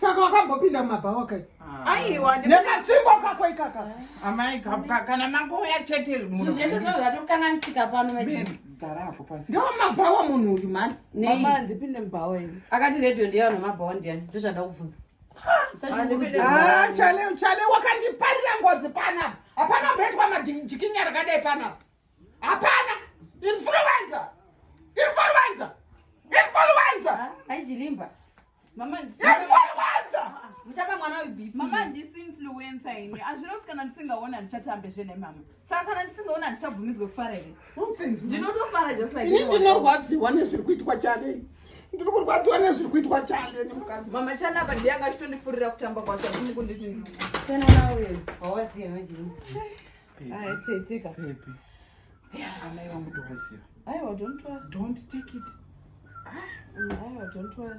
saka wakambopinda mumabhawa kai ah. aiwa nekatsvimbo kako ikaka ah. amai kana makouya chete zvese zvavo zvatokanganisika pano ndo mabhawa munhu uyu mani mama ndipinde mubhawa ini akati redio ndeyavanhu mabhawa ndiyani ndozvanda kubvunza ah, chale chale wakandiparira ngozi panapa hapana mboitwa majikinya rakadai panapa hapana influenza influenza influenza aichilimba mama influenza muchapa mwana webipi mama ndisi influenza ini hazvina kuti kana ndisingaona ndichatambe zvene mama saka kana ndisingaona ndichabvumidzwe kufara here ndinotofara just like ini ndinorwadziwa nezviri kuitwa chale ndiri kurwadziwa nezviri kuitwa chale nemukadzi mama chana apa ndiye angachitondifurira kutamba kwacho ndimukunditi ndikana nawe hawaziva chii Hai tete ka. Pepi. Yeah. Amai wangu tovaziva. Aiwa don't worry. Don't take it. Ah, aiwa don't worry.